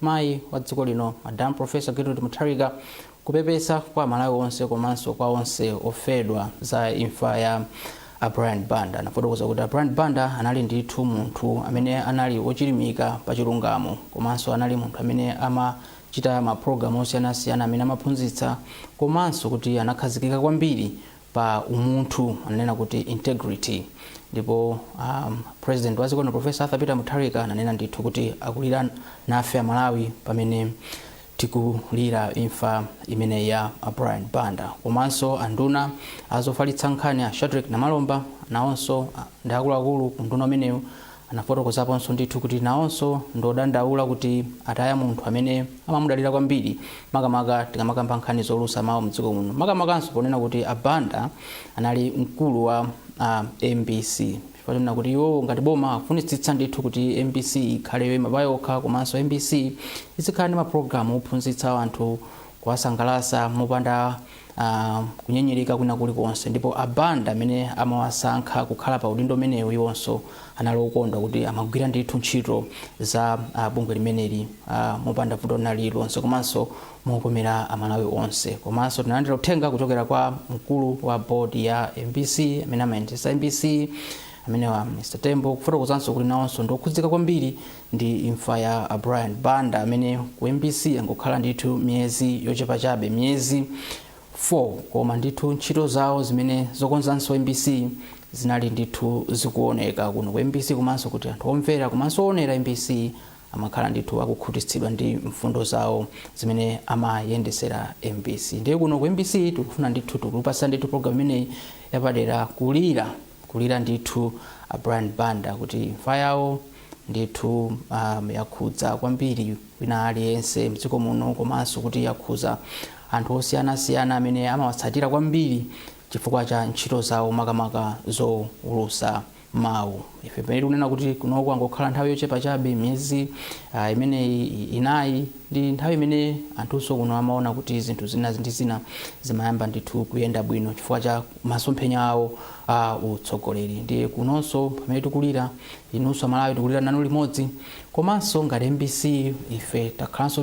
Mayi wa dziko lino, Madam Professor Gertrude Mutharika, kupepesa kwa aMalawi onse komanso kwa onse ofedwa za imfa ya a Brian Banda. Anafotokoza kuti a Brian Banda anali ndithu munthu amene anali ochilimika pa chilungamo komanso anali munthu amene amachita ma program osiyanasiyana amene amaphunzitsa komanso kuti anakhazikika kwambiri pa umunthu ananena kuti integrity ndipo um, president wa dziko lino professor arthur peter mutharika ananena ndithu kuti akulira nafe amalawi pamene tikulira imfa imene ya a brian banda komanso anduna azofalitsa nkhani a shadric namalomba nawonso ah, ndi akuluakulu ku unduna umenewu Anafotokozaponso ndithu kuti nawonso ndi odandaula kuti ataya munthu amene amamudalira kwambiri makamaka tikamakamba nkhani zoulutsa mawu mdziko muno makamakanso ponena kuti a Banda anali mkulu wa a mbc chifukwa chonena kuti iwowo ngati boma akufunitsitsa ndithu kuti mbc ikhale yoyima payokha komanso mbc izikhala ndi ma program ophunzitsa anthu kuwasangalatsa mopanda uh, kunyengerera kwina kulikonse ndipo a banda amene amawasankha kukhala pa udindo umenewu iwonso anali okondwa kuti amagwira ndithu ntchito za uh, bungwe limeneli uh, mopanda vuto lina lililonse komanso mokomera amalawi onse komanso tinalandira uthenga kuchokera kwa mkulu wa bodi ya mbc amene amayendetsa mbc amenewa mr tembo kufotokozanso kuti nawonso ndiokhudzika kwambiri Ndi imfa ya a Brian Banda amene ku mbc angokhala ndithu miyezi yochepa chabe, miyezi 4, koma ndithu ntchito zawo zimene zokonzanso mbc zinali ndithu zikuoneka kuno ku mbc komanso kuti anthu omvera komanso oonera mbc amakhala ndithu akukhutitsidwa ndi mfundo zawo zimene amayendetsera mbc. Ndiye kuno ku mbc tikufuna ndithu tikupatseni ndithu program imeneyi yapadera kulira. Kulira ndithu a Brian Banda kuti imfa yawo ndithu yakhudza kwambiri wina aliyense mdziko muno komanso kuti yakhudza anthu osiyanasiyana amene amawatsatira kwambiri chifukwa cha ntchito zawo makamaka zowulutsa mawu. Ife pamene tikunena kuti kuno angokhala nthawi yochepa chabe miyezi ah, imeneyi i- inayi ndi nthawi imene anthunso kuno amaona kuti zinthu zina ndi zina zimayamba ndithu kuyenda bwino chifukwa cha masomphenya awo a utsogoleri ndiye kunonso pamene tikulira inunso amalawi tikulira nanu limodzi komanso ngati mbc ife takhalanso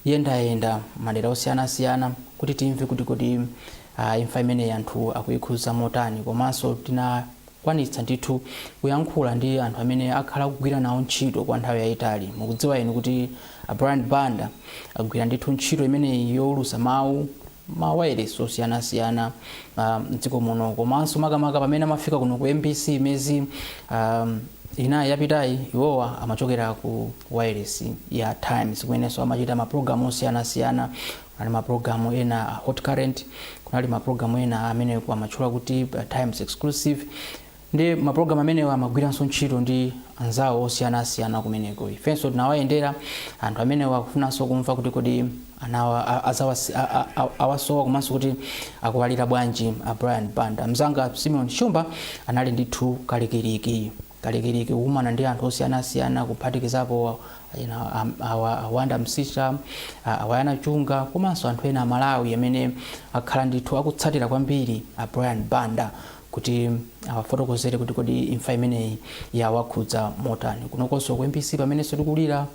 tikuyendayenda madera osiyanasiyana kuti timve kuti kodi uh, imfa imeneyi anthu yawakhudza motani komanso tinakwanitsa ndithu kuyankhula ndi anthu amene akhala akugwira nawo ntchito kwa nthawi yayitali mukudziwa inu kuti a brian banda agwira ndithu ntchito imeneyi yowulutsa mawu ma wailesi osiyanasiyana a mdziko muno komanso makamaka pamene amafika kuno ku mbc miyezi um, inayi yapitayi iwowa amachokera ku wailesi ya times kumenenso amachita mapulogalamu osiyanasiyana kunali mapulogalamu ena a hot current kunali mapulogalamu ena amene amatchula kuti uh, times exclusive Ndiye mapulogalamu amenewa amagwiranso ntchito ndi anzawo osiyanasiyana kumeneko. Ifenso tinawayendera anthu amenewa kufunanso kumva kuti kodi anawa a- azawasi- a- a- a- awasowa komanso kuti akuwalira bwanji a Brian Banda. Mzanga Simeon Shumba anali ndithu kalikiliki kalikiliki kukumana ndi anthu osiyanasiyana kuphatikizapo you know, am- awa- a wonder msiska a- a yona chunga komanso anthu ena amalawi amene akhala ndithu akutsatira kwambiri a brian banda kuti awafotokozere kuti kodi imfa imeneyi yawakhudza motani kunokonso ku mbc pamenenso tikulira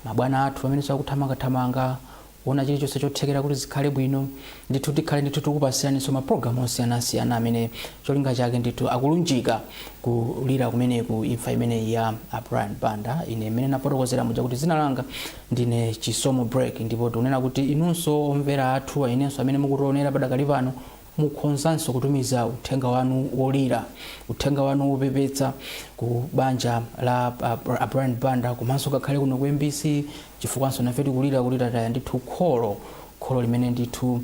mabwana athu pamenenso akuthamangathamanga kuona chilichonse chothekera kuti zikhale bwino ndithu tikhale ndithu tikupasiraninso mapulogalamu osiyanasiyana amene cholinga chake ndithu akulunjika kulira kumeneku imfa imeneyi ya a brian banda ine mmene ndafotokozera muja kuti dzina langa ndine chisomo break ndipo tikunena kuti inunso omvera athu inunso amene mukutionera padakali pano Mukhonzanso kutumiza uthenga wanu wolira, uthenga wanu wopepetsa ku banja la a Brian Banda komanso ngakhale kuno ku mbc chifukwanso nafe tikulira kuti tataya ndithu kholo, kholo limene ndithu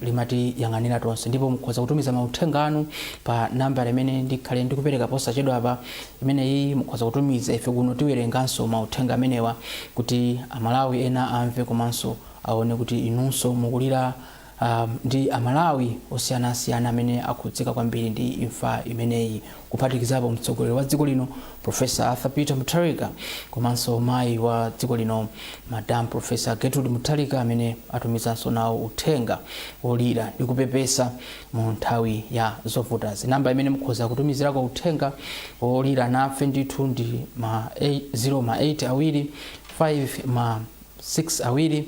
limatiyang'anira tonse ndipo mukhoza kutumiza mauthenga anu pa nambala imene ndikhale ndikupereka posachedwapa imeneyi mukhoza kutumiza ife kuno tiwerenganso mauthenga amenewa kuti a Malawi ena amve komanso aone kuti inunso mukulira Ndi a Malawi osiyanasiyana amene akhudzika kwambiri ndi imfa imeneyi kuphatikizapo mtsogoleri wa dziko lino Professor Arthur Peter Mutharika komanso mayi wa dziko lino Madam Professor Gertrude Mutharika amene atumizanso nawo uthenga wolira ndi kupepesa mu nthawi ya zovutazi. Namba imene mukhoza kutumizirako uthenga wolira nafe ndithu ndi ma 0 ma 8 awiri 5 ma 6 awiri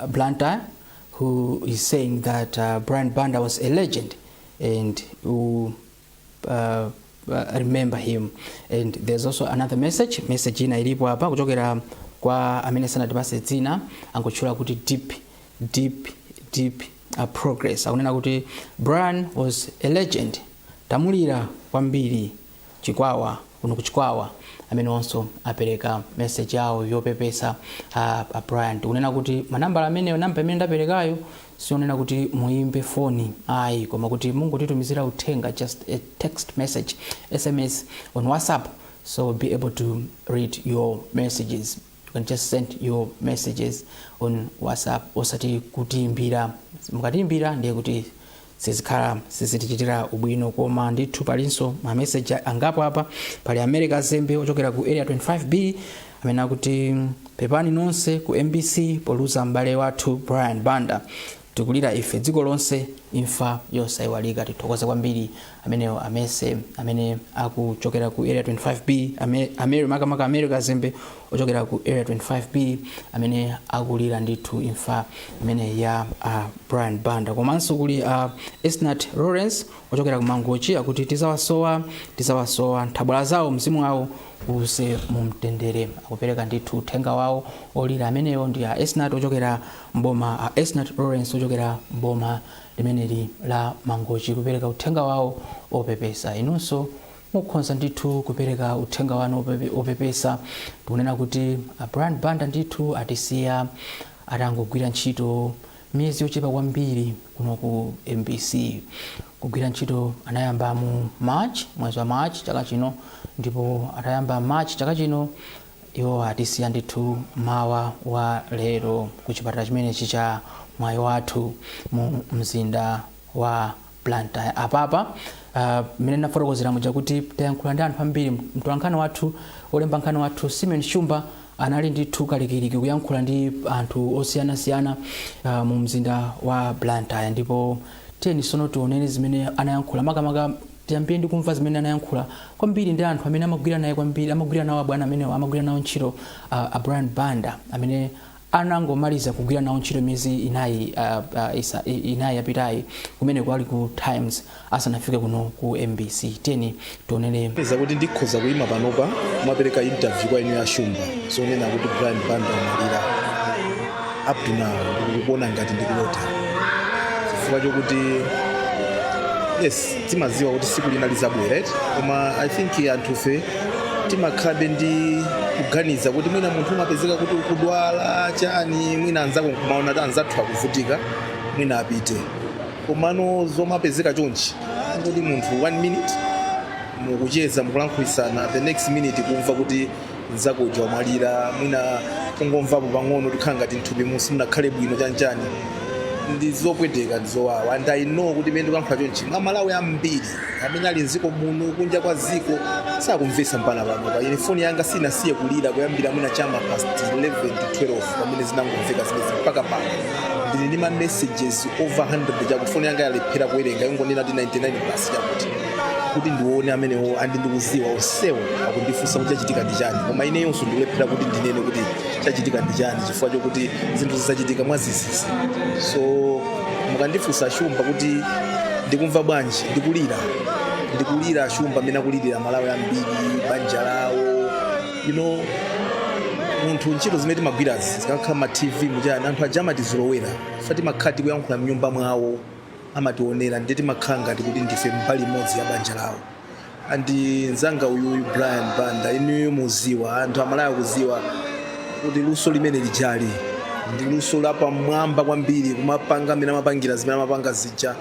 uh, Blantyre, who is saying that uh, Brian Banda was a legend and who uh, uh, remember him. And there's also another message, message ina ilipo hapa kuchokera kwa amene sanatipase dzina angotchula kuti deep deep deep uh, progress akunena kuti Brian was a legend tamulira kwambiri Chikwawa kuno ku Chikwawa amenewonso apereka message yawo yopepesa a, a Brian tikunena kuti manambala ameneyo namba imene ndaperekayo si yonena kuti muimbe foni ayi koma kuti mungotitumizira uthenga just a text message sms on whatsapp so we'll be able to read your messages You can just send your messages on whatsapp osati kutiimbira mukatiimbira ndiye kuti sizikhala sizitichitira ubwino koma ndithu palinso mameseji angapo apa pali america zembe ochokera ku area 25b amene akuti pepani nonse ku mbc poluza m'bale wathu brian banda Tikulira ife dziko lonse imfa yosaiwalika tithokoze kwambiri amenewo amenewo amene akuchokera ku area 25b ame, ameri makamaka ameri kazembe ochokera ku area 25b amene akulira ndithu imfa imene ya uh, brian banda komanso kuli uh, esnat lawrence ochokera ku mangochi akuti tizawasowa tizawasowa nthabwala zawo mzimu wawo uuse mu mtendere akupereka ndithu uthenga wawo olira amenewo ndi a esnat ochokera m'boma a Esnat Lawrence ochokera m'boma limeneli la Mangochi kupereka uthenga wawo opepesa. Inunso mukhonza ndithu kupereka uthenga wanu opepe- opepesa tikunena kuti a Brian Banda ndithu atisiya atangogwira ntchito miyezi yochepa kwambiri kuno ku mbc kugwira ntchito anayamba mu march mwezi wa march chaka chino ndipo atayamba march chaka chino Iwo atisiya ndithu mmawa wa lero ku chipatala chimenechi cha Mwaiwathu mu mzinda wa Blantyre. Apapa, mmene ndinafotokozera muja kuti tayankhula ndi anthu ambiri, mtolankhani wathu, olemba nkhani wathu Simeon Shumba anali ndithu kalikiliki kuyankhula ndi anthu osiyanasiyana uh, mu mzinda wa Blantyre ndipo tiyeni sono tionere zimene anayankhula makamaka Tiyambire ndi kumva zimene anayankhula kwambiri ndi anthu amene amagwira naye kwambiri, amagwira nawo abwana amenewa, amagwira nawo ntchito a, a Brian Banda amene anangomaliza kugwira nawo ntchito miyezi inayi, a, a, isa, inayi yapitayi kumeneko ali ku Times asanafike kuno ku MBC. Tiyeni tionere peza kuti ndikhoza kuyima panopa kumapereka interview kwa inu a Shumba zonena kuti brian banda amwalira up to now ndikuona ngati ndikulota chifukwa chokuti yes timadziwa kuti siku lina lizabwera right koma i think anthufe timakhalabe ndi kuganiza kuti mwina munthu umapezeka kuti ukudwala chani mwina anzako nkumaona kuti anzathu akuvutika mwina apite komano zomapezeka chonchi kuti munthu one minute mukucheza mukulankhulitsana the next minute kumva kuti nzako uja wamwalira mwina kungomvapo pang'ono kukhala ngati mthupi musi- simunakhale bwino chanchani ndi zopweteka ndi zowawa and i know kuti mmene ndikulankhula chonchi a Malawi ambiri amene ali mziko muno kunja kwa ziko sakumvesa mpaka pano ine foni yanga sinasiye kulira kuyambira mwina chama past 11 to 12 pamene zinangomveka zimezi mpaka pano ndili ndi ma messages over 100 chakuti foni yanga yalephera kuwerenga yangonena kuti 99 plus chakuti kuti ndione amenewo and ndikuziwa onsewo akundifunsa kuti chachitika ndi chani koma ineyonso ndikulephera kuti ndinene kuti chachitika ndi chani chifukwa chokuti zinthu izi zachitika mwazizizi so mukandifunsa shumba kuti ndikumva bwanji ndikulira ndikulira shumba mmene akulirira amalawi ambiri banja lawo you know munthu ntchito zimene timagwirazi zikakhala ma tv muchani anthu aja amatizolowera chifwa timakhala tikuyankhula mnyumba mwawo amationera ndiye timakhala ngati kuti ndife mbali imodzi ya banja lawo and nzanga uyuyu brian banda inuyo mukuziwa anthu amalawi akuziwa kuti luso limene lijali ndi luso lapamwamba kwambiri kumapanga mmene amapangira zimene amapanga zija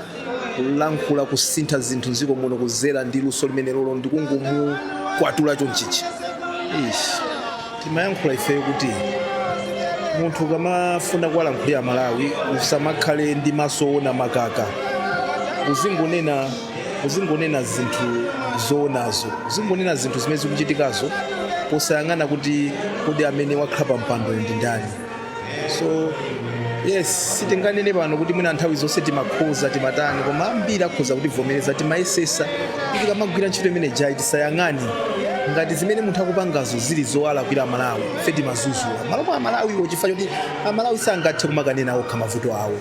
kulankhula kusintha zinthu mdziko muno kuzera ndi luso limene lolo ndikungomukwatula chonchichi Eish. Timayankhula ifeyo kuti munthu ukamafuna kuwalankhulira Amalawi usamakhale ndi maso oona makhaka, uzingonena uzingonena zinthu zoonazo, uzingonena zinthu zimene zikuchitikazo posayang'ana kuti kodi amene wakhala pa mpandoyo ndi ndani. so yes sitinganene pano kuti mwina nthawi zonse timakhoza timatani koma ambiri akhoza kutivomereza timayesesa kuti tikamagwira ntchito imene ijayi tisayang'ane ngati zimene munthu akupangazo zili zowalakwira amalawi ife timazuzula mmalo mwa amalawiwo chifukwa choti amalawi sangathe kumakanena okha mavuto awo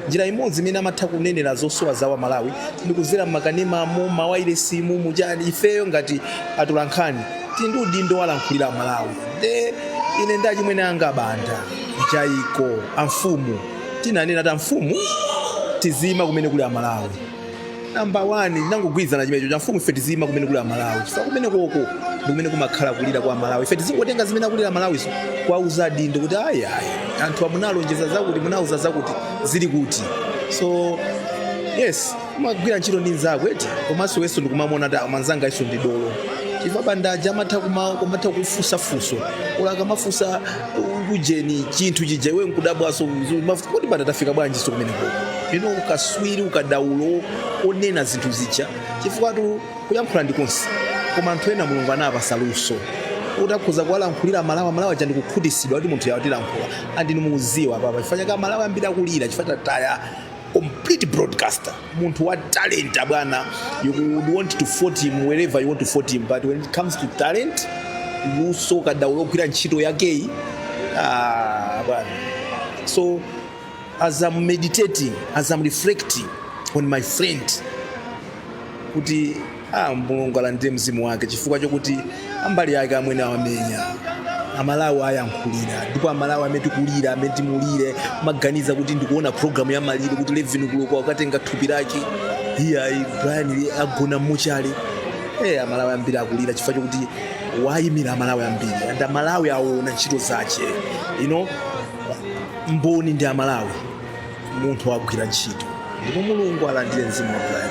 Njira imodzi imene amatha kunenera zosowa zawo Amalawi ndi kudzera m'makanemamu, m'mawailesimu, mu chani. Ifeyo ngati atolankhani tili ndi udindo wowalankhulira Amalawi. Nde ine ndi achimwene anga aBanda, Mjaiko, a Mfumu tinanena kuti a Mfumu tiziima kumene kuli Amalawi. namba 1 tinangogwirizana chimenecho kuti amfumu ife tiziima kumene kuli amalawi chifukwa kumene koko ndi kumene kumakhala kulira kwa amalawi ife tizingotenga zimene akulira amalawizo kwauza adindo kuti ayi ayi anthuwa munalonjeza zakuti munauza zakuti zili kuti so yes umagwira ntchito ndi nzako eti komanso iweso ndikumamuona kuti ah mnzangayuso ndi dolo chifukwa banda uja amatha kuma- kumatha kufunsa funso oro akamafunsa ujeni chinthu chija iwe nkudabwaso kuti banda tafika bwanjiso kumeneko ndiye ukaswiri ukadaulo onena zinthu zija chifukwatu kuyankhula ndi konse koma anthu ena mulungu anawapasa luso kuti akhoza kuwalankhulira amalawi amalawi aja ndikukhutisidwa kuti munthuyu watilankhulira and inu mukuziwa apapa chifukwa chake amalawi ambiri akulira chifukwa tataya complete broadcaster munthu wa talent abwana you would want to fault him wherever you want to fault him but when it comes to talent luso kadaulo ogwira ntchito yakeyi ah, bwana so as i'm meditating as i'm reflecting on my friend kuti A Mulungu alandire mzimu wake chifukwa chokuti mbali yake amwene awamenyera amalawi awayankhulira ndipo amalawi mmene tikulira mmene timulire ndimaganiza kuti ndikuona programu ya maliro kuti levin kuloko akatenga thupi lake iyayi brian agona muchani amalawi ambiri akulira chifukwa chokuti wayimira amalawi ambiri and amalawi aona ntchito zache you know mboni ndi amalawi munthu wagwira ntchito ndipo mulungu alandire mzimu wa brian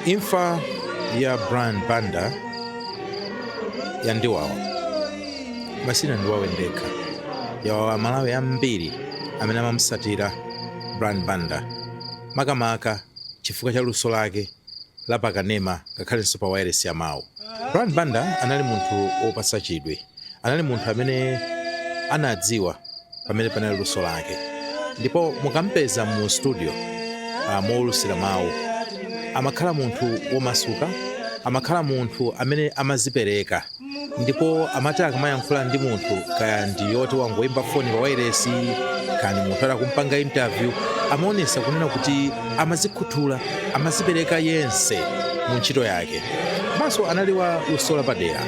Imfa ya Brian Banda yandiwawa koma sinandiwawe ndekha yawawa aMalawi ambiri amene amamusatira Brian Banda makamaka chifukwa cha luso lake la pakanema ngakhalenso pa wailesi ya mawu. Brian Banda anali munthu wopatsa chidwi anali munthu amene anadziwa pamene panali luso lake ndipo mukampeza mu studio uh, moulusira mawu amakhala munthu womasuka amakhala munthu amene amazipereka ndipo amati akamayankhula ndi munthu kaya ndi woti wangoyimba foni pa wairesi kaya ndi munthu woti akumpanga interview amaonesa kunena kuti amazikhuthula amazipereka yense mu ntchito yake komanso anali wa luso lapadera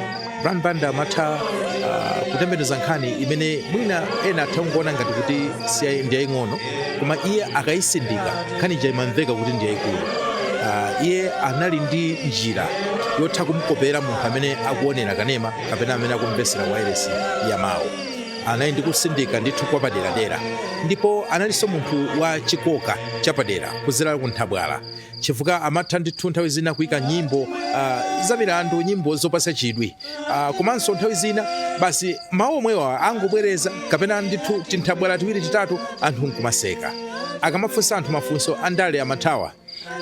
brian banda amatha uh, kutembenuza nkhani imene mwina ena atha kungoona ngati kuti si ndi yaying'ono koma iye akayisindika nkhani ija imamveka kuti ndi yayikulu uh, iye anali ndi njira yotha kumkopera munthu amene akuonera kanema kapena amene akumvesera wairesi ya mawu anali ndi kusindika ndithu kwapaderadera ndipo analinso munthu wa chikoka chapadera kuzera ku nthabwala chifukwa amatha ndithu nthawi zina kuika nyimbo ah, za milandu nyimbo zopasa chidwi Ah, komanso nthawi zina basi mawu omwewa angobwereza kapena ndithu tinthabwala tiwiri titatu anthu nkumaseka akamafunsa anthu mafunso andale amathawa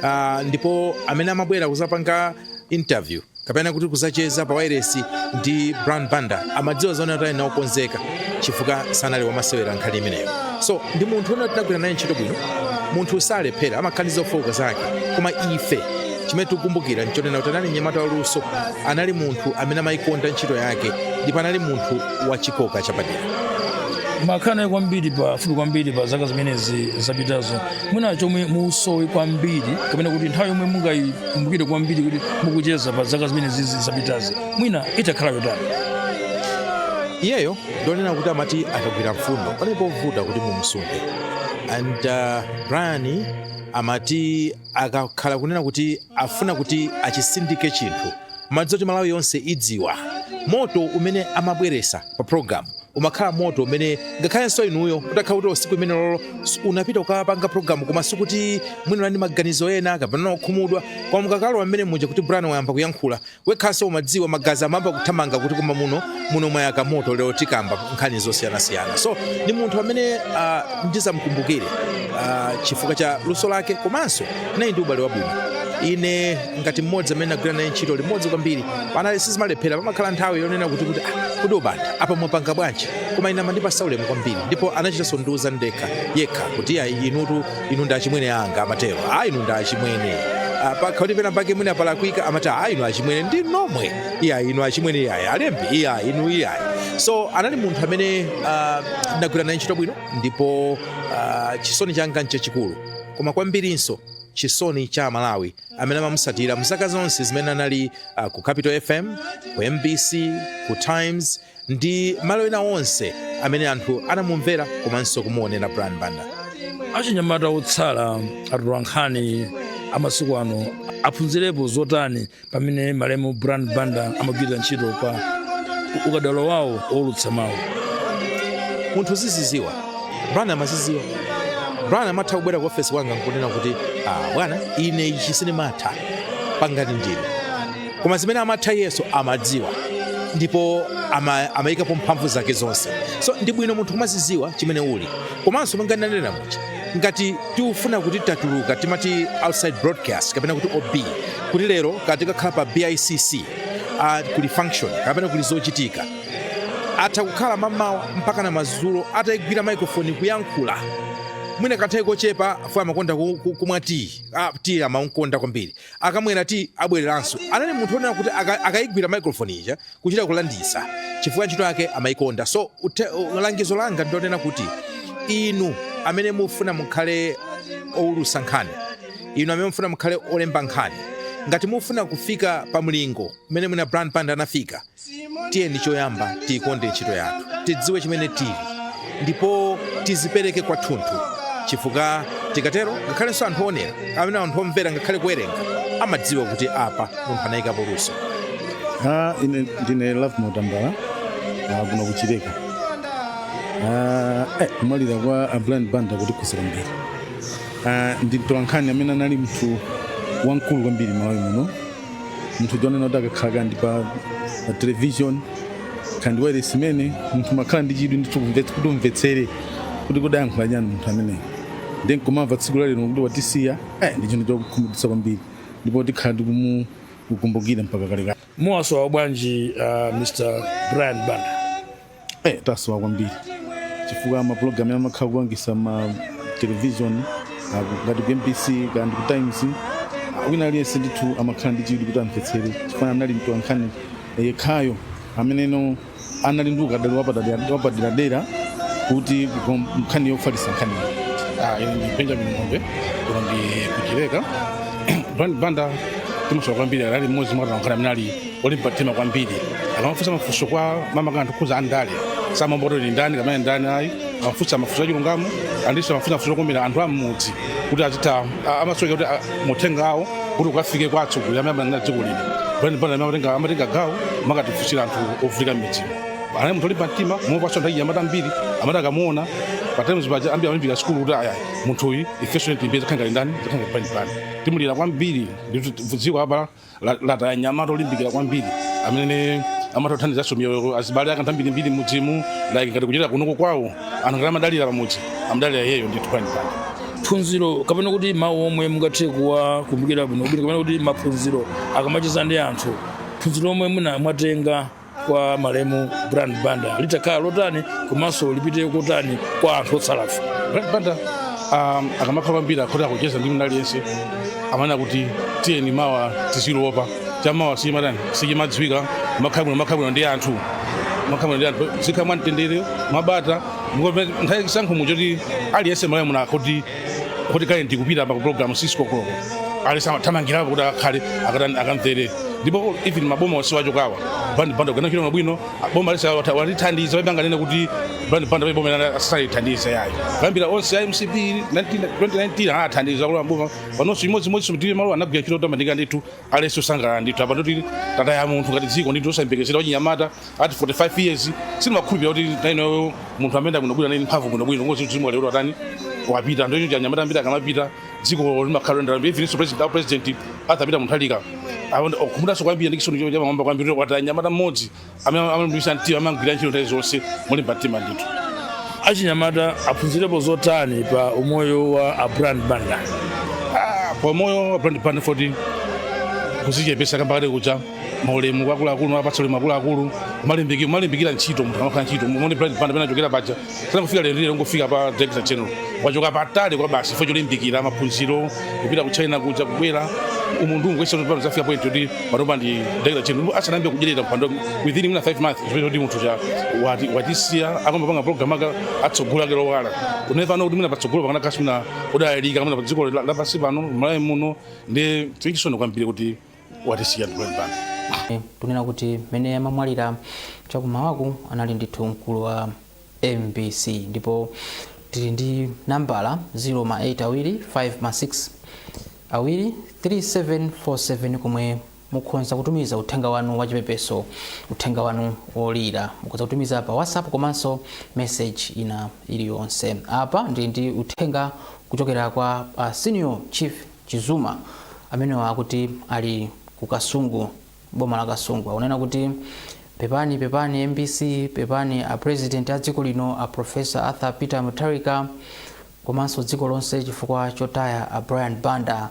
Ah, ndipo amene amabwera kuzapanga interview kapena kuti kuzacheza pa wailesi ndi Brian Banda amadziwa zonena kuti ali okonzeka chifukwa sanali wamasewera nkhani imeneyo so ndi munthu onena kuti tinagwira naye ntchito bwino munthu salephera amakhala ndi zofooka zake koma ife chimene tikukumbukira nchonena kuti anali mnyamata waluso anali munthu amene amayikonda ntchito yake ndipo anali munthu wachikoka chapadera mwakhala naye kwambiri pafupi kwambiri pa zaka zimenezi zapitazo mwina chomwe musowe kwambiri kapena kuti nthawi yomwe mungayi kumbukire kwambiri kuti mukucheza pa zaka zimenezi zapitazi mwina itakhala yotani iyeyo ndi wonena kuti amati akagwira mfundo panali povuta kuti mumsunthe and uh, brian amati akakhala kunena kuti afuna kuti achisindike chinthu umadziwa kuti malawi yonse idziwa moto umene amabweresa pa programu umakhala moto umene ngakhalenso inuyo utakhala kuti tsiku limenelo unapita kukapanga programu koma sikuti mwina unali ndi maganizo ena kapena unakhumudwa koma mukakalowa mmenemuja kuti brian wayamba kuyankhula wekhaso umadziwa magazi amayamba kuthamanga kuti koma muno muno mwayaka moto lero tikamba nkhani zosiyanasiyana so ndi munthu amene uh, ndizamkumbukire uh, chifukwa cha luso lake komanso anali ndi ubale wabwino ine ngati mmodzi amene ndagwira naye ntchito limodzi kwambiri anali sizimalephera pamakhala nthawi yonena kuti kuti "Ah, kodi a Banda apa mwapanga bwanji koma ine amandipatsa ulemu kwambiri ndipo anachitanso ndiuza ndekha yekha kuti ayi inutu inu ndi achimwene anga amatero a inu ndi achimwene Ah, pa- kuti pena pake mwina palakwika amati a inu achimwene ndi nomwe iya inu achimwene iyayi alembi iya inu iyayi so anali munthu amene ah, ndagwira naye ntchito bwino ndipo ah, chisoni changa nchachikulu koma kwambirinso chisoni cha aMalawi amene amamutsatira mu zaka zonse zimene anali uh, ku Capital FM ku MBC ku Times ndi malo ena onse amene anthu anamumvera komanso kumuonera Brian Banda achinyamata otsala atolankhani amasiku ano aphunzirepo zotani pa mmene malemu Brian Banda amagwirira ntchito pa ukadaulo wawo woulutsa mawu munthu uzidzidziwa Brian amadzidziwa Brian amatha kubwera ku ofesi kwanga nkunena kuti ah, bwana ine ichi sindimatha pangani ndinu koma zimene amatha iyeso amadziwa ndipo ama- amayikapo mphamvu zake zonse so ndi bwino munthu kumadzidziwa chimene uli komanso monga ndanena muja ngati tikufuna kuti tatuluka timati outside broadcast kapena kuti OB kuti lero kaya tikakhala pa BICC uh, kuli function kapena kuli zochitika atha kukhala mamawa mpaka na madzulo atayigwira microphone kuyankhula mwina kanthawi kochepa afuwa amakonda ku- ku- kumwa tiyi ah, tiyi amamukonda kwambiri akamwera tiyi abwereranso anali munthu onena kuti aka- akayigwira microphone ija kuchita kulanditsa chifukwa ntchito yake amayikonda so uthe- u- langizo langa ndilonena kuti inu amene mufuna mukhale owulutsa nkhani inu amene mufuna mukhale olemba nkhani ngati mufuna kufika pa mlingo umene mwina Brian Banda anafika tiyeni choyamba tiyikonde ntchito yathu tidziwe chimene tili ndipo tizipereke kwathunthu chifukwa tikatero ngakhalenso anthu onera amene anthu omvera ngakhale kuwerenga amadziwa kuti apa munthu anayikapo luso Ah, ine ndine Lovemore Tambala ah, kuno ku Chileka Ah, eh, kumwalira kwa a Brian Banda kwatikhudza ambiri Ah, ndi mtolankhani amene anali munthu wamkulu kwambiri Malawi muno munthu wonena kuti akakhala kaya ndi pa pa television kaya ndi wailesi imene munthu umakhala ndi chidwi ndithu kumvetsa- kuti umvetsere kuti kodi ayankhula chani munthu ameneyo ndiye kumamva tsiku la lero kuti watisiya eh, ndi chinthu chokhumudwitsa kwambiri ndipo tikhala tikumukumbukira mpaka kalekale muwasowa bwanji uh, Mr Brian Banda eh, tasowa kwambiri chifukwa mapulogalamu amene amakhala akupangitsa ma television ah, ngati ku mbc kana ndi ku times ah, wina aliyense ndithu amakhala ndi chidwi kuti amvetsere chifukwa anali mtolankhani yekhayo ameneno anali ndi ukadaulo wapadera- wapaderadera kuti kukom- nkhani yofalitsa nkhaniyo Ah, ine ndi benjamin ng'ombe kuno ndi ku chileka brian banda timusowa kwambiri ali mmodzi mwa atolankhani amene ali olimba mtima kwambiri akamafunsa mafunso kwa makamaka anthu okhudza zandale samaopa kuti ndi ndani kapena ndani ayi amafunsa mafunso achilungamo andinso amafunsa mafunso okomera anthu am'mudzi kuti azitha a- amasoweka kuti a- muthenga awo kuti ukafike kwa atsogoleri amene amanena dziko lino brian banda amatenga amatenga gawo kumakatifunsira anthu ovutika m'midzimo anali munthu olimba mtima mopasa nthawi amati ambiri amati akamuona pa times paja ambiri amalimbikira sukulu kuti aya munthu uyu ifenso tilimbikire tidzakhale ngati ndani tidzakhale ngati brian banda timulira kwambiri ndithu dziko apa la- lataya mnyamata olimbikira kwambiri amene amatha kuthandizanso miyoyo ya azibale ake ambirimbiri m'midzimu like ngati ku chileka kunoko kwawo anthu ngati amadalira pamudzi amadalira iyeyo ndithu brian banda phunziro kapena kuti mawu omwe mungathe kuwakumbukira bwino bwino kapena kuti maphunziro akamacheza ndi anthu phunziro omwe muna mwatenga kwa malemu Brian Banda litakhala lotani komanso lipite kotani kwa anthu otsalafe. Brian Banda um, akamakhala kwambiri kuti akucheza ndi munthu aliyense amanena kuti tiyeni mawa tiziliopa chamawa sichimatani sichimadziwika kumakhala bwino kumakhala bwino ndi anthu kumakhala bwino ndi anthu tizikhala mwamtendere mwabata ndipo nthawi ya chisankho muchoti aliyense malamulo akhoti kuti kale ndikupita pa program 6 koloko aliyense amathamangirapo kuti akakhale akatani akamvere ndipo even maboma onse wachokawa Brian Banda kugwira ntchito yabwino boma lililonse walithandiza palibe anganene kuti Brian Banda boma lina sanalithandize ayi kuyambira onse ya MCP 19 2019 anathandiza kuti maboma panonso chimodzimodzi mtiri malo anagwira ntchito yotamandika ndithu aliyense osangalala ndithu apa ndoti tataya munthu ngati dziko ndithu osayembekezera wachinyamata ati 45 years sindimakhulupira kuti nainoyo munthu amene akunobwira naini mphamvu kunobwino ngozi dzimwa lero atani wapita ndiye achinyamata ambiri akamapita dziko limakhala lendera mbiri even president au president arthur peter mutharika akhumudwanso kwambiri ndi chisoni chamwamba kwambiri kuti wataya mnyamata mmodzi amene amalimbikitsa mtima amagwira ntchito nthawi zonse molimba mtima ndithu achinyamata aphunzirepo zotani pa umoyo wa a brian banda Ah, pa umoyo wa brian banda foti kudzichepetsa kambakati kucha maulemu kwa akuluakulu kuwapatsa ulemu akuluakulu kumalimbiki- kumalimbikira ntchito munthu amakhala ntchito muone brian banda pamene anachokera paja sanangofika lero lero n'kungofika pa director general wachoka patali kwabasi chifukwa cholimbikira maphunziro kupita ku china kuja kubwera umu ndi umu kwesa pano zafika point yoti panopa ndi director general asanayambe kudyerera kupando within mwina 5 months chimene kuti munthu uja wati- watisiya akamapanga program ake tsogolo lake lowala kune pano kuti mwina patsogolo pakana kasi mwina wodalirika mwina pa dziko la- lapansi pano malawi muno ndi chisoni kwambiri kuti watisiya ndimene pano Eh, tunena kuti mmene amamwalira chakumawaku anali ndithu mkulu wa mbc ndipo tili ndi nambala 0 ma 8 awiri 5 ma 6 awiri 3747 komwe mukhonza kutumiza uthenga wanu wachipepeso uthenga wanu wolira mukhonza kutumiza pa whatsapp komanso message ina iliyonse apa ndili ndi uthenga kuchokera kwa uh, senior chief Chizuma. Amenewa akuti ali ku Kasungu m'boma la Kasungu. Akunena kuti pepani pepani mbc, pepani a president a dziko lino a Professor Arthur Peter Mutharika komanso dziko lonse chifukwa chotaya a Brian Banda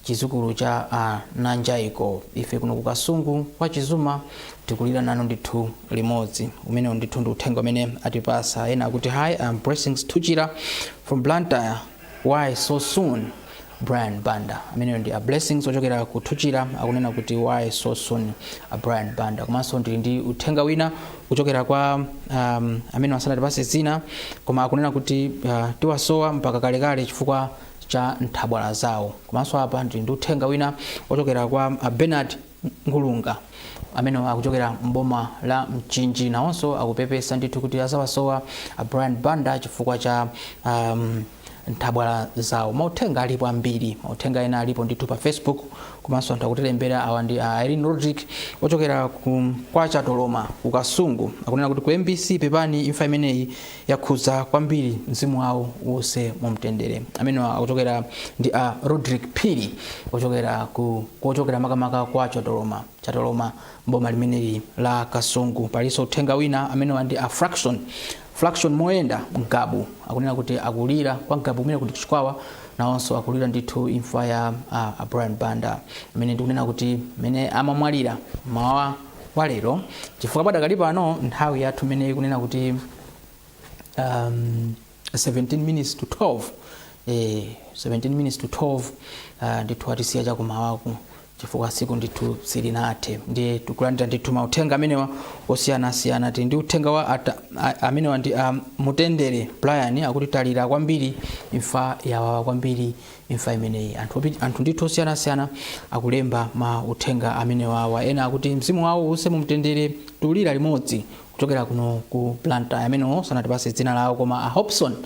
chizukulu cha a Nanjaiko. Ife kuno ku Kasungu kwa Chizuma tikulira nanu ndithu limodzi. Umenewu ndithu ndi uthenga umene atipasa. Ena akuti hi, I am Blessings Thuchira from Blantyre. Why so soon? Brian Banda ameneyo ndi a Blessings ochokera ku Thuchira akunena kuti why so soon a Brian Banda komanso ndili ndi uthenga wina kuchokera kwa um, amene sanatipase dzina koma akunena kuti uh, tiwasowa mpaka kalekale chifukwa cha nthabwala zawo komanso apa ndili ndi uthenga wina ochokera kwa a Bernard Ngulunga, amenewa akuchokera m'boma la Mchinji, nawonso akupepesa ndithu kuti azawasowa a Brian Banda chifukwa cha um, nthabwala zawo. Mauthenga alipo ambiri, mauthenga ena alipo ndithu pa Facebook komanso anthu akutilembera. Awa ndi a Irene Rodrick ochokera kwa Chatoloma ku Kasungu, akunena kuti ku MBC pepani, imfa imeneyi yakhudza kwambiri mzimu wawo uuse mu mtendere amenewa akuchokera ndi a rodrick phiri ochokera ku kochokera makamaka kwa chatoloma chatoloma m'boma limeneli la kasungu palinso uthenga wina amenewa ndi a fraction fraction moyenda ngabu akunena kuti akulira kwa ngabu kumene ku chikwawa nawonso akulira ndithu imfa ya a, a brian banda amene ndikunena kuti mmene amamwalira mmawa wa lero chifukwa padakali pano nthawi yathu imeneyi ikunena kuti um, 17 minutes to 12 eh, 17 minutes to 12 uh, ndithu atisiya chakumawaku chifukwa siku ndithu silinathe ndiye tikulandira ndithu mauthenga amenewa osiyanasiyana tili ndi uthenga wa ata, a, amenewa ndi um, mutendere brian akuti talira kwambiri imfa yawawa kwambiri imfa imeneyi. Anthu, opi, anthu ndithu osiyanasiyana akulemba ma uthenga amenewawa. Ena akuti mzimu wawo uuse mumtendere tikulira limodzi kuchokera kuno ku Blantyre. Amenewo sanatipase dzina lawo koma a Hobson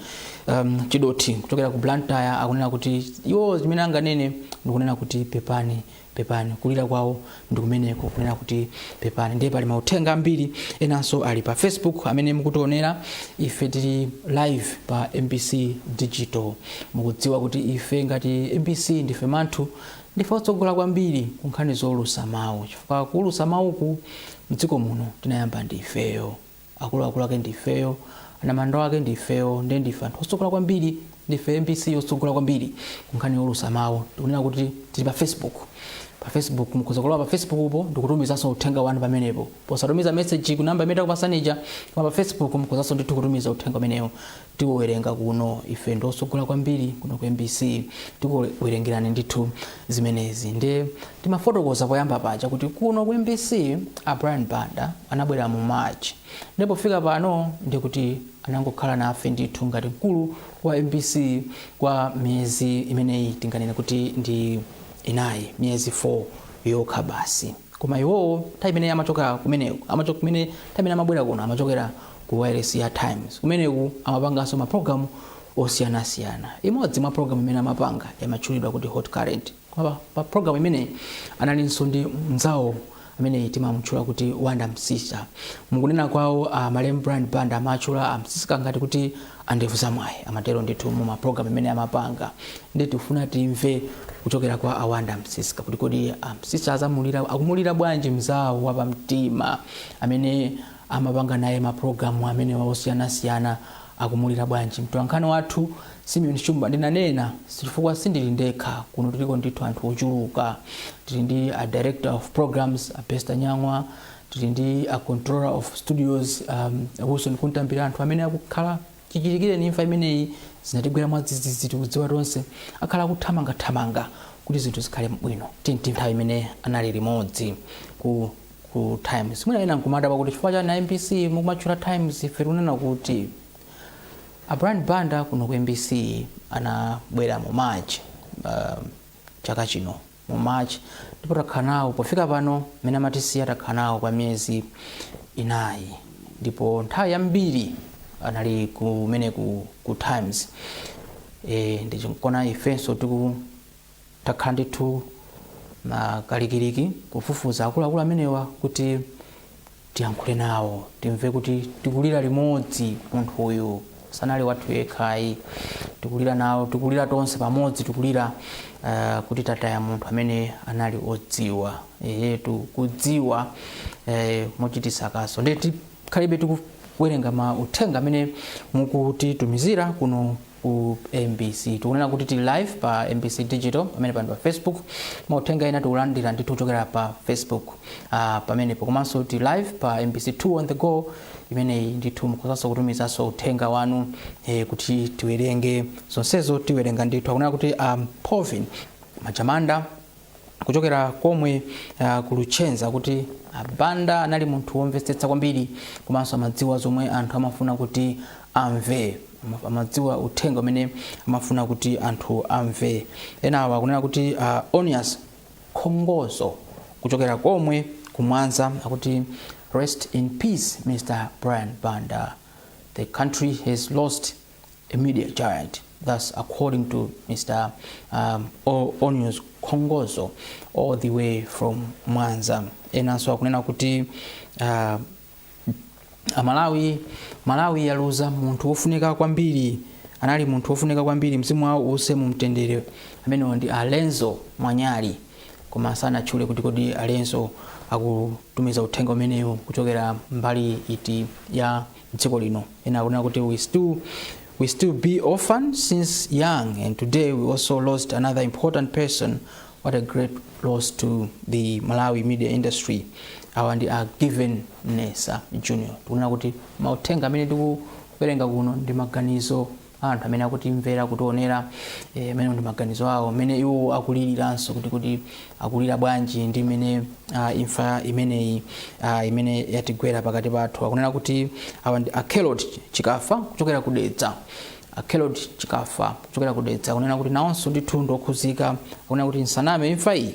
um, Chidothi kuchokera ku Blantyre akunena kuti iwo zimene anganene ndikunena kuti pepani Pepani, kulira kwawo ndi kumeneko kunena kuti pepani. Ndiye pali mauthenga ambiri enanso ali pa Facebook amene mukutionera ife tili live pa MBC Digital. Mukudziwa kuti ife ngati MBC ndife manthu ndife otsogola kwambiri ku nkhani zoulutsa mawu chifukwa kuulutsa mawuku mdziko muno tinayamba ndi ifeyo. Akuluakulu ake ndi ifeyo, anamandwa ake ndi ifeyo, ndiye ndife anthu otsogola kwambiri, ndife mbc yotsogola kwambiri ku nkhani youlutsa mawu. Tikunena kuti tili pa Facebook. Pa Facebook mukhoza kulowa pa Facebook po ndikutumizanso uthenga wanu pamenepo. Posatumiza message ku namba imene takupasani ija, koma pa Facebook mukhozanso ndithu kutumiza uthenga umenewo. tikuwerenga kuno ife ndi otsogola kwambiri kuno ku mbc tikuwerengerani ndithu zimenezi ndiye timafotokoza poyamba paja kuti kuno ku mbc a brian banda anabwera mu march ndiye pofika pano ndikuti anangokhala nafe ndithu ngati mkulu wa mbc kwa miyezi imeneyi tinganene kuti ndi inayi miyezi 4 yokha basi koma iwowo nthawi imene amachokera kumene nthawi imene amabwera kuno amachokera ku wireless ya times kumeneku amapanganso mapulogalamu osiyanasiyana imodzi mwa pulogalamu imene amapanga imatchulidwa kuti hot current koma pa- pa pulogalamu imene analinso ndi mnzawo amene timamutchula kuti wonder msiska mukunena kwawo malemu brian banda amatchula a msiska ngati kuti Andevu zamwayi amatero ndithu muma program amene amapanga nde tifuna timve kuchokera kwa a Wonder Msiska kuti kodi a Msiska akumulira bwanji mzawo wapamtima amene amapanga naye ma program amenewa osiyanasiyana akumulira bwanji mtolankhani wathu Simeon Shumba ndinanena chifukwa sindili ndekha kuno tiliko ndithu anthu ochuluka tili ndi a director of programs a Bester Nyang'wa tili ndi a controller of studios um, wilson kuntambira anthu amene akhala chichitikireni imfa imeneyi zinatigwera mwadzidzidzi tikudziwa tonse akhala akuthamangathamanga kuti zinthu zikhale bwino tinti nthawi imene anali limodzi ku ku times mwina ena nkumadabwa kuti chifukwa chani mbc mukumatchula times ife tikunena kuti a brian banda kuno ku mbc anabwera mu march uh, chaka chino mu March ndipo takhala nawo pofika pano mmene amatisiya takhala nawo kwa miyezi inayi ndipo nthawi yambiri anali kumene ku, ku times e, ndichonkona ifenso tiku takhala ndithu pakalikiliki kufufuza akuluakulu amenewa kuti tiyankhule nawo timve kuti tikulira limodzi munthu uyu sanali wathu yekha ayi tikulira nawo tikulira tonse pamodzi tikulira uh, kuti tataya munthu amene anali odziwa eyetu kudziwa eh, mochititsa kaso nde tikhalabe tikuwerenga mauthenga amene mukutitumizira kuno ku mbc tikunena kuti tili live pa mbc digital pamene pano pa facebook mauthenga ena tikulandira ndithu kuchokera pa facebook uh, pamenepo komanso tili live pa mbc 2 on the go imeneyi ndithu mukhozanso kutumizanso uthenga wanu eh, kuti tiwerenge zonsezo tiwerenga ndithu akunena kuti um, povin majamanda kuchokera komwe uh, ku luchenza kuti a banda anali munthu womvetsetsa kwambiri komanso amadziwa zomwe anthu amafuna kuti amve Ama- amadziwa uthenga umene amafuna kuti anthu amve enawa akunena kuti uh, onias khongozo kuchokera komwe kumwanza akuti rest in peace mr brian banda the country has lost a media giant. That's according to Mr. Um, O- Onius Kongozo all the way from Mwanza. Enanso akunena kuti uh, amalawi malawi yaluza munthu wofunika kwambiri anali munthu wofunika kwambiri mzimu wawo uuse mumtendere amenewo ndi alenzo mwanyali koma sanatchule kuti kodi alenzo akutumiza uthenga umenewu kuchokera mbali iti ya mdziko lino. Ena akunena kuti we still we still be orphans since young and today we also lost another important person what a great loss to the malawi media industry awa ndi a given nesa junior tikunena kuti mauthenga amene tikuwerenga kuno ndi maganizo a anthu amene akutimvera kutionera eh, amenewo ndi maganizo awo mmene iwo akuliriranso kuti kuti akulira bwanji ndi mmene ah, imfa imeneyi ah, imene yatigwera pakati pathu akunena kuti awa ndi akelot chikafa kuchokera ku dedza akelot chikafa kuchokera ku dedza akunena kuti nawonso ndithu ndiokhuzika akunena kuti nsaname imfa iyi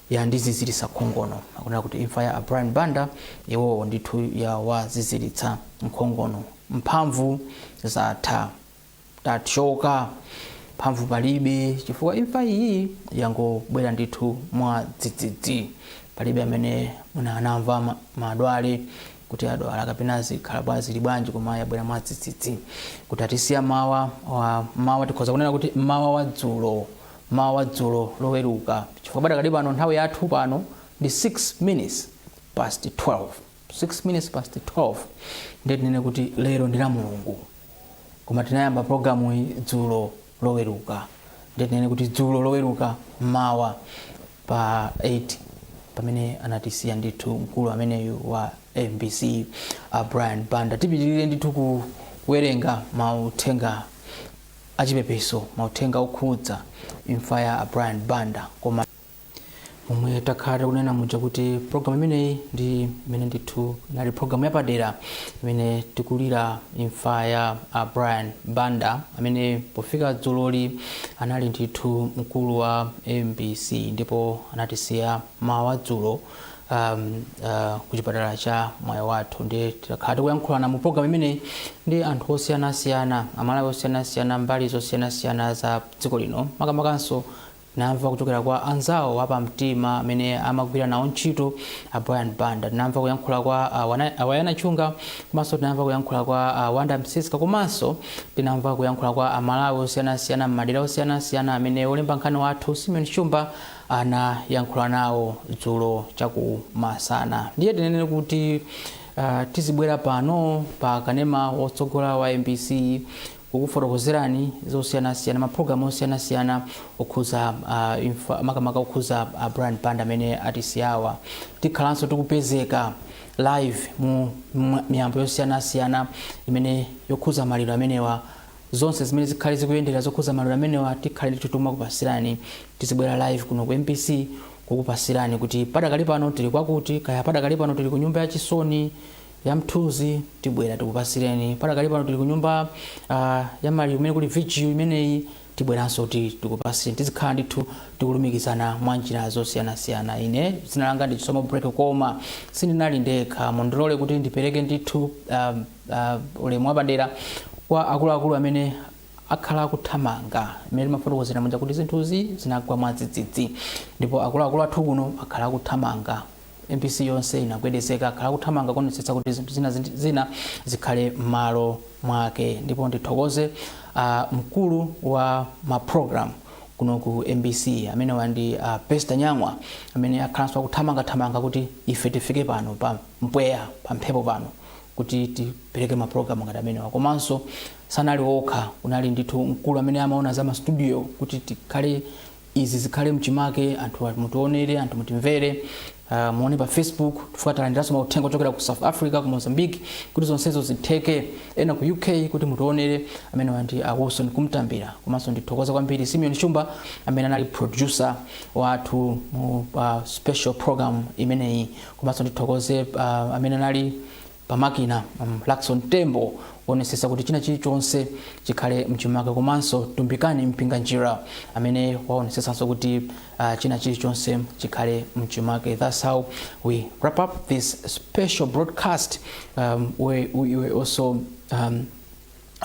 yandiziziritsa nkhongono akunena kuti imfa ya a brian banda iwowo ndithu yawaziziritsa nkhongono mphamvu zatha. tatchoka. mphamvu palibe chifukwa imfa iyi yangobwera ndithu mwa dzidzidzi. palibe amene mwina anamva ma, madwale kuti adwala kapena zikhala bwa zili bwanji koma yabwera mwa dzidzidzi kuti atisiya mmawa wa mmawa tikhoza kunena kuti mmawa wa dzulo mmawa wa dzulo loweruka chifukwa padakali pano nthawi yathu pano ndi 6 minutes past 12 6 minutes past 12 ndiye tinene kuti lero ndi la mulungu koma tinayamba programu iyi dzulo loweruka ndiye tinene kuti dzulo loweruka mmawa pa 8 pamene anatisiya ndithu mkulu ameneyu wa mbc a brian banda tipitirire ndithu kuwerenga mauthenga achipepeso mauthenga okhudza imfa ya a brian banda koma momwe takhala tikunena muja kuti programu imeneyi ndi imene ndithu inali programu yapadera imene tikulira imfa ya a brian banda amene pofika dzuloli anali ndithu mkulu wa mbc ndipo anatisiya mmawa wa dzulo um, uh, ku chipatala cha mwaiwathu ndi takhala tikuyankhulana mu programu imeneyi ndi anthu osiyanasiyana amalawi osiyanasiyana mbali zosiyanasiyana za dziko lino makamakanso Tinamva kuchokera kwa anzawo apamtima amene amagwira nawo ntchito a Brian Banda, tinamva kuyankhula kwa a Wana- a Anayawa Chunga komanso tinamva kuyankhula kwa a Wanda Msiska komanso tinamva kuyankhula kwa Amalawi osiyanasiyana m'madera osiyanasiyana amene wolemba nkhani wathu Simeon Shumba anayankhula nawo dzulo chakumasana. Ndiye tinene kuti Uh, tizibwera pano pa kanema wotsogola wa mbc kukufotokozerani zosiyanasiyana mapulogalamu osiyanasiyana okhuza imfa makamaka okhuza a Brian Banda amene atisiyawa tikhalanso tikupezeka live mu mwa- miyambo yosiyanasiyana imene yokhuza maliro amenewa zonse zimene zikhale zikuyendera zokhuza maliro amenewa tikhale ndithu timakupasirani tizibwera live kuno ku mbc kukupasirani kuti padakali pano tili kwakuti kaya padakali pano tili ku nyumba ya chisoni ya mthunzi tibwera tikupasireni padakali pano tili ku nyumba uh, ya mali kumene kuli vigil imeneyi tibweranso kuti tikupasireni tizikhala ndithu tikulumikizana mwa njira zosiyanasiyana ine dzina langa ndi chisomo break koma sindinali ndekha mundilole kuti ndipereke ndithu uh, uh, ulemu wapadera kwa akuluakulu amene akhala akuthamanga imene timafotokozera muja kuti zinthuzi zinagwa mwadzidzidzi ndipo akuluakulu athu kuno akhala akuthamanga Mbc yonse inagwedezeka, akhala akuthamanga kuonetsetsa kuti zinthu zina zindi- zina zikhale m'malo mwake ndipo ndithokoze a mkulu wa ma program kuno ku mbc amenewa ndi a pester nyang'wa amene akhalanso akuthamangathamanga kuti ife tifike pano pa mpweya pa mphepo pano kuti tipereke mapulogalamu ngati amenewa komanso sanali okha kunali ndithu mkulu amene amaona za mastudio kuti tikhale izi zikhale mchimake anthu mutionere anthu mutimvere uh, muone pa facebook chifukwa talandiranso mauthenga ochokera ku south africa ku mozambique kuti zonsezo zitheke ena ku uk kuti mutionere amenewa ndi a wilson kumtambira komanso ndithokoze kwambiri simeon shumba amene anali producer wathu mu uh, special program imeneyi komanso ndithokoze uh, amene anali pamakina um, Luckson Tembo woonesesa kuti china chilichonse chikhale mchimake komanso Tumbikani Mpinganjira amene waonesesanso kuti uh, china chilichonse chikhale mchimake that's how we wrap up this special broadcast um, where we were also um,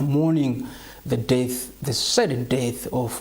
mourning the death the sudden death of